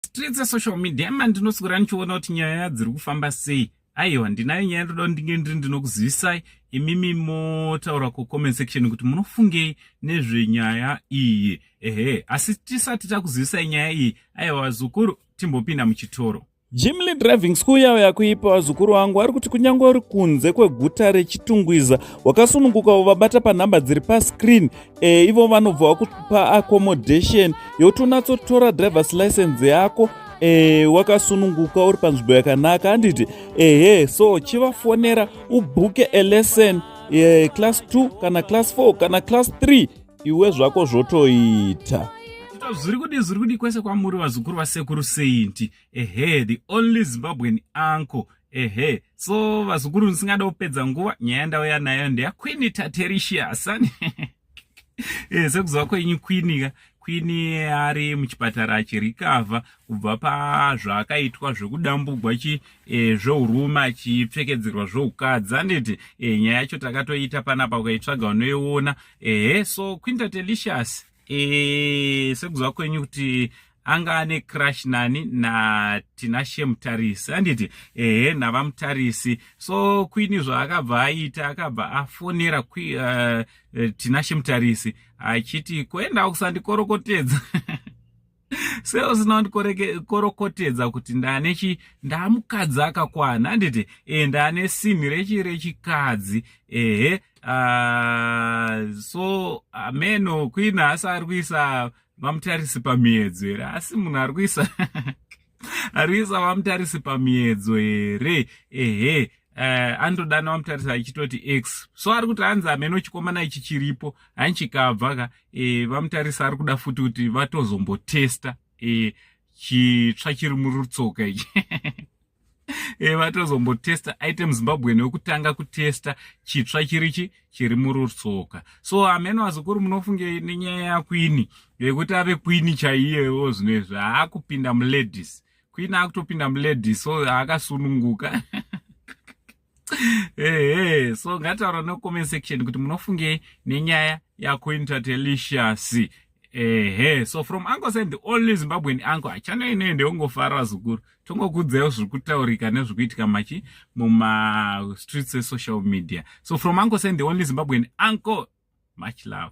streets esocial media ma ndinoswera ndichiona kuti nyaya dziri kufamba sei aiwa ndinayo nyaya ndoda ndinge ndiri ndinokuzivisai imimi motaura kucomment section kuti munofungei nezvenyaya iyi ehe asi tisati takuzivisai nyaya iyi aiwa zukuru timbopinda muchitoro jimly driving school yawo yakuipa vazukuru vangu vari kuti kunyange uri kunze kweguta rechitungwiza wakasununguka uvabata panhamba dziri pascreen e, ivo vanobva vakupa accommodation yotonatsotora drivers license yako e, wakasununguka uri panzvimbo yakanaka handiti ehe so chivafonera ubhuke alesson e, eh, class 2 kana class 4 kana class 3 iwe zvako zvotoita zviri kudi zviri kudi kwese kwamuri vazukuru vasekuru saint ehe the only zimbabwean uncle ehe so vazukuru ndisingada kupedza nguva nyaya yandauya nayo ndeya quini tatericius ani eh, sekuziva kwenyu quini ka quini ari muchipatara achirikavha kubva pazvaakaitwa zvekudambugwa chi e, zveurume achipfekedzerwa zveukadzi anditi e, nyaya yacho takatoita panapa ukaitsvaga unoiona ehe so quinta telicious e, sekuziva kwenyu kuti anga ane crush nani natinashe mutarisi anditi ehe navamutarisi so kwini zvaakabva aita akabva afonera uh, eh, tinashe mutarisi achiti kuenda kusandikorokotedza sei usina kundikorokotedza kuti ndane chi ndamukadzi akakwana handiti e ndane sinhi rechi rechikadzi ehe uh, so ameno queen haasi ari kuisa vamutarisi pamiedzo here asi munhu ari kuisa arisa vamutarisi pamiedzo here ehe uh, eh, anotodana vamutarisa achitoti x so ari kuti hanzi ameno chikomana ichi chiripo hani chikabva ka e, eh, vamutarisa ari kuda futi kuti vatozombotesta e, eh, chitsva chiri murutsoka ichi e, vatozombotesta aite muzimbabweni wekutanga kutesta chitsva chirichi chiri murutsoka so hameno vazukuru munofunge nenyaya yakwini yekuti ave kwini chaiyewo zvino izvi haakupinda muladies kwini akutopinda muladies so haakasununguka ehe so ngataura no comment section kuti munofungei nenyaya yakuintatellicious ehe so from uncle said the only zimbabwean uncle achana inei ndeungofara vazukuru tongokudzaiwo zviri kutaurika nezviri kuitika machi mumastreets esocial media so from uncle said the only zimbabwean uncle much love